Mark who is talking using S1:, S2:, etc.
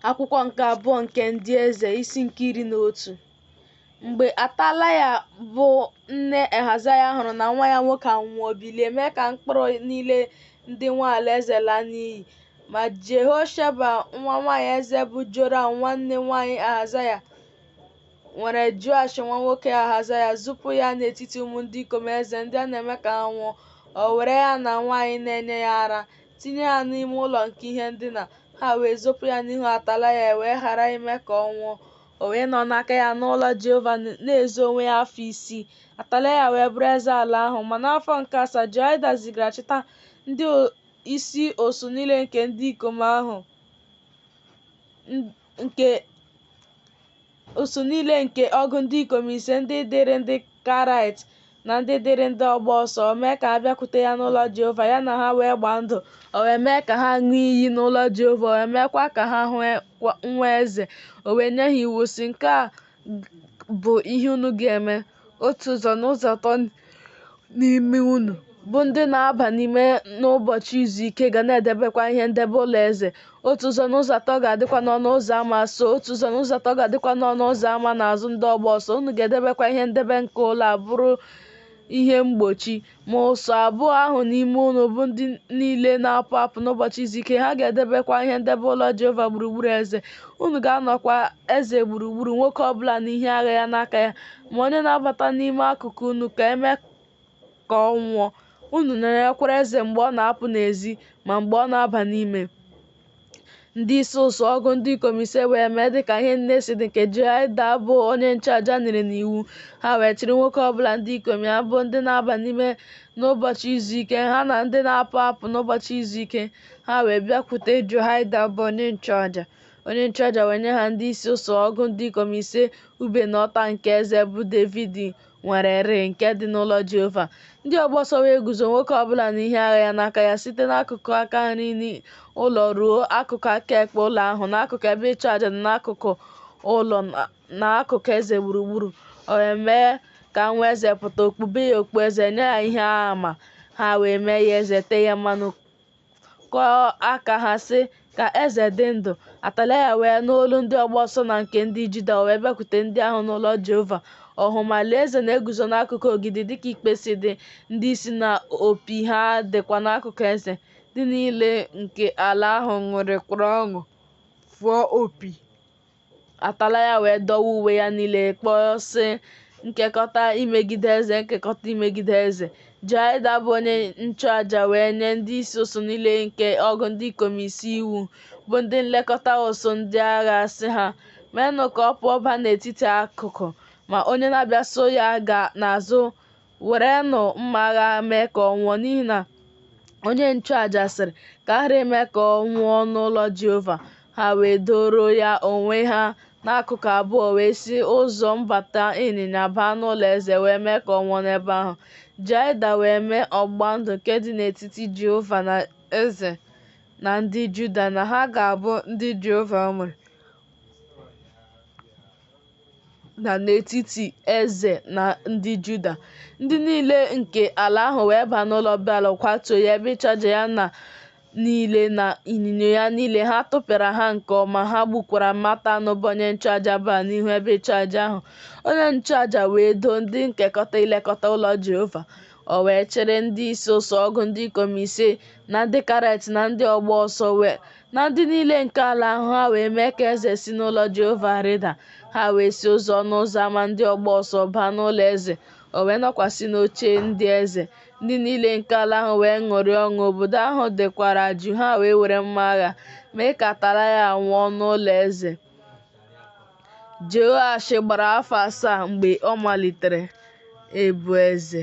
S1: akwụkwọ nke abụọ nke ndị eze isi nke iri na otu mgbe atalaya bụ nne ahazaya hụrụ na nwa ya nwoke anwụọ o bilie mee ka mkpụrụ niile ndị nwe alaeze laa n'iyi ma jehosheba nwa nwaanyị eze bụ joram nwanne nwaanyị ahazaya nwere joash nwa nwoke ahazaya zupụ ya n'etiti ụmụ ndị ikom eze ndị a na-eme ka ha nwụọ o were ya na nwaanyị na-enye ya ara tinye ha n'ime ụlọ nke ihe ndina, ha wee zopụ ya n'ihu Atalaya e wee ghara ime ka ọ nwụọ. O wee nọ n'aka ya n'ụlọ Jehova na-ezo onwe ya afọ isii. Atalaya wee bụrụ eze ala ahụ. Ma n'afọ nke asaa, Joyada zigara chịta ndị isi ụsụ niile nke ndị ikom ahụ nke Ụsụ niile nke ọgụ ndị ikom ise ndị dịrị ndị Karaịt na ndị dịrị ndị ọgba ọsọ, o mee ka ha bịakwute ya n'ụlọ Jehova, ya na ha wee gbaa ndụ. O wee mee ka ha ṅụọ iyi n'ụlọ Jehova, o wee meekwa ka ha hụ nwa eze. O wee nye ha iwu, sị, Nke a bụ ihe unu ga-eme. otu ụzọ n'ụzọ atọ n'ime unu bụ ndị na-aba n'ime n'ụbọchị izu ike ga na-edebekwa ihe ndebe ụlọ eze otu ụzọ n'ụzọ atọ ga-adịkwa n'ọnụ ụzọ ama so otu ụzọ n'ụzọ atọ ga-adịkwa n'ọnụ ụzọ ama n'azụ ndị ọgba ọsọ unu ga-edebekwa ihe ndebe nke ụlọ a bụrụ ihe mgbochi Ma ụsụ abụọ ahụ n'ime unu bụ ndị niile na-apụ apụ n'ụbọchị izu ike, ha ga-edebekwa ihe ndebe ụlọ Jehova gburugburu eze. Unu ga-anọkwa eze gburugburu, nwoke ọ bụla na ihe agha ya n'aka ya. Ma onye na-abata n'ime akụkụ unu ka e mee ka ọ nwụọ. Unu nọnyerekwara eze mgbe ọ na-apụ n'ezi ma mgbe ọ na-aba n'ime. Ndị isi ụsụ ọgụ ndị ikom ise wee mee dịka ihe niile si dị nke Jehoiada bụ onye nchụaja nyere n'iwu. Ha wee chịrị nwoke ọ bụla ndị ikom ya bụ ndị na-aba n'ime n'ụbọchị izu ike ha na ndị na-apụ apụ n'ụbọchị izu ike ha wee bịakwute Jehoiada bụ onye nchụaja. Onye nchụaja wee nye ha ndị isi ụsụ ọgụ ndị ikom ise ube na ọta nke eze bụ Devid nwere rịị nke dị n'ụlọ Jehova. Ndị ọgba ọsọ wee guzo nwoke ọ bụla na ihe agha ya n'aka ya site n'akụkụ aka nri n'ụlọ ruo akụkụ aka ekpe ụlọ ahụ, n'akụkụ ebe ịchụ aja na n'akụkụ ụlọ na- na akụkụ eze gburugburu. O wee mee ka nwa eze pụta, o kpube ya okpueze, nye ya ihe ama, ha wee mee ya eze, tee ya mmanụ, kụọ aka ha sị ka eze dị ndụ atalaya wee nụ olu ndị ọgba ọsọ na nke ndị juda wee bịakwute ndị ahụ n'ụlọ jehova ọ hụ ma lee eze na-eguzo n'akụkụ ogidi dịka ikpe si dị ndị isi na opi ha dịkwa n'akụkụ eze ndị niile nke ala ahụ ṅụrịkwara ọṅụ fụọ opi Atalaya wee dọwa uwe ya niile kpọọ sị nkekọta imegide eze nkekọta imegide eze Joiada bụ onye nchụaja wee nye ndị isi ụsụ niile nke ọgụ ndị ikom ise iwu bụ ndị nlekọta ụsụ ndị agha sị ha meenụ ka ọ pụọ baa n'etiti akụkụ ma onye na-abịa so ya gaa n'azụ werenụ mma agha mee ka ọ nwụọ n'ihi na onye nchụaja sịrị ka a ghara ime ka ọ nwụọ n'ụlọ Jehova ha wee doro ya onwe ha n'akụkụ abụọ wee si ụzọ mbata ịnyịnya baa n'ụlọ eze wee mee ka ọ nwụọ n'ebe ahụ Joiada wee mee ọgba ndụ nke dị n'etiti Jehova na eze na ndị Juda na ha ga-abụ ndị Jehova nwere na n'etiti eze na ndị Juda ndị niile nke ala ahụ wee baa n'ụlọ Beal kwatuo ya ebe ịchụaja ya niile na ịnyịnya ya niile ha tụpịara ha nke ọma ha gbukwara Matan bụ onye nchụaja Beal n'ihu ebe ịchụaja ahụ onye nchụaja wee doo ndị nkekọta ilekọta ụlọ Jehova o wee chịrị ndị isi ụsụ ọgụ ndị ikom ise na ndị Karet na ndị ọgba ọsọ na ndị niile nke ala ahụ ha wee mee ka eze si n'ụlọ Jehova rịda ha wee si ụzọ ọnụ ụzọ ama ndị ọgba ọsọ baa n'ụlọ eze o wee nọkwasị n'oche ndị eze ndị niile nke ala ahụ wee ṅụrịa ọṅụ obodo ahụ dịkwara jụụ ha wee were mma agha mee ka Atalaya nwụọ n'ụlọ eze Jehoash gbara afọ asaa mgbe ọ malitere ịbụ eze